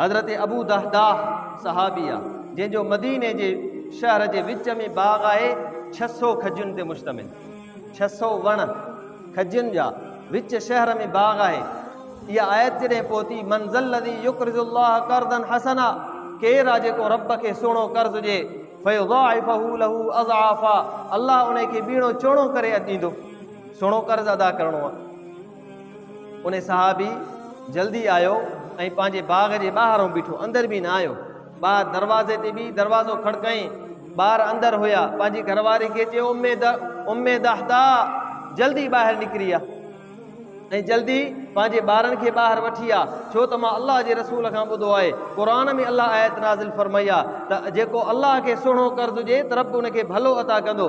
حضرت Abu Dahdah صحابي آ جنهن جو مديني جي شهر جي وچ ۾ باغ آهي ڇهه سؤ کجين تي مشتمل ڇهه سؤ وڻ کجين جا وچ شهر ۾ باغ آهي اها آيت جڏهن پهتي منزل الذي يقرض الله قرضا حسنا ڪير آ جيڪو رب کي سهڻو قرض ڏي فيضاعفه له اضعافا الله ان کي ٻيڻو چوڻو ڪري ڏيندو سهڻو قرض ادا ڪرڻو آ ان صحابي جلدي آيو ۽ پنهنجي باغ جي ٻاهران بيٺو اندر به نه آيو ٻاهر دروازي تي به دروازو کڙڪائين ٻار اندر هيا پنهنجي گهر واري کي چيو اميد اميد احدا جلدي ٻاهر نڪري آ ۽ جلدي پنهنجي ٻارن کي ٻاهر وٺي آ ڇو ته مان الله جي رسول کان ٻڌو آهي قر ۾ الله آيت نازل فرمائي آ ته جيڪو الله کي سهڻو قرض ڏي ته رب ان کي ڀلو عطا ڪندو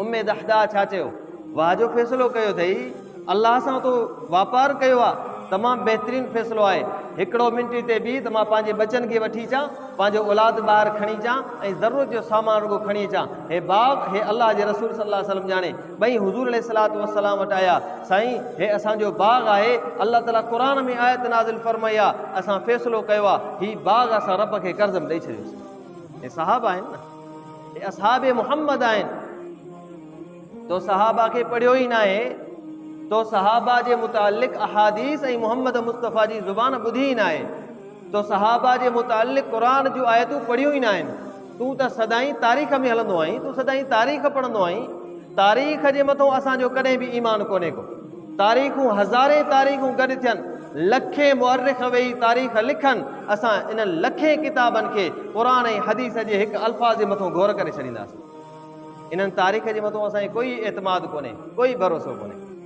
اميد احدا ڇا چيو؟ واهه جو فيصلو ڪيو اٿئي، الله سان تو واپار ڪيو آ، تمام بهترين فيصلو آهي، هڪڙو منٽ هتي بيهه ته مان پنهنجي ٻچن کي وٺي اچان، پنهنجو اولاد ٻاهر کڻي اچان ۽ ضرورت جو سامان رڳو کڻي اچان، هي باغ، هي الله جي رسول صلي الله عليه وسلم ڄاڻي، ٻئي حضور عليه الصلوة والسلام وٽ آيا، سائين هي اسان جو باغ آهي، الله تعالي قرآن ۾ آيت نازل فرمائي آ، اسان فيصلو ڪيو آ، هي باغ اسان رب کي قرض ۾ ڏئي ڇڏيوسين. هي صحابه آهن نه. هي اصحاب محمد آهن. تو صحابه کي پڙهيو ئي ناهي، تو صحابه جي متعلق احاديث ۽ محمد مصطفيٰ جي زبان ٻڌي ئي ناهي، تو صحابه جي متعلق قرآن جون آيتون پڙهيون ئي ناهن، تون ته سدائين تاريخ ۾ هلندو آهين، تون سدائين تاريخ پڙهندو آهين، تاريخ جي مٿو اسان جو ڪڏهن به ايمان ڪونهي ڪو. تاريخون هزارين تاريخون گڏ ٿين، لکين مؤرخ ويهي تاريخ لکن، اسان انهن لکين ڪتابن کي قرآن ۽ حديث جي هڪ الفاظ جي مٿون گهور ڪري ڇڏينداسين. انهن تاريخ جي مٿون اسان کي ڪوئي اعتماد ڪونهي، ڪوئي ڀروسو ڪونهي.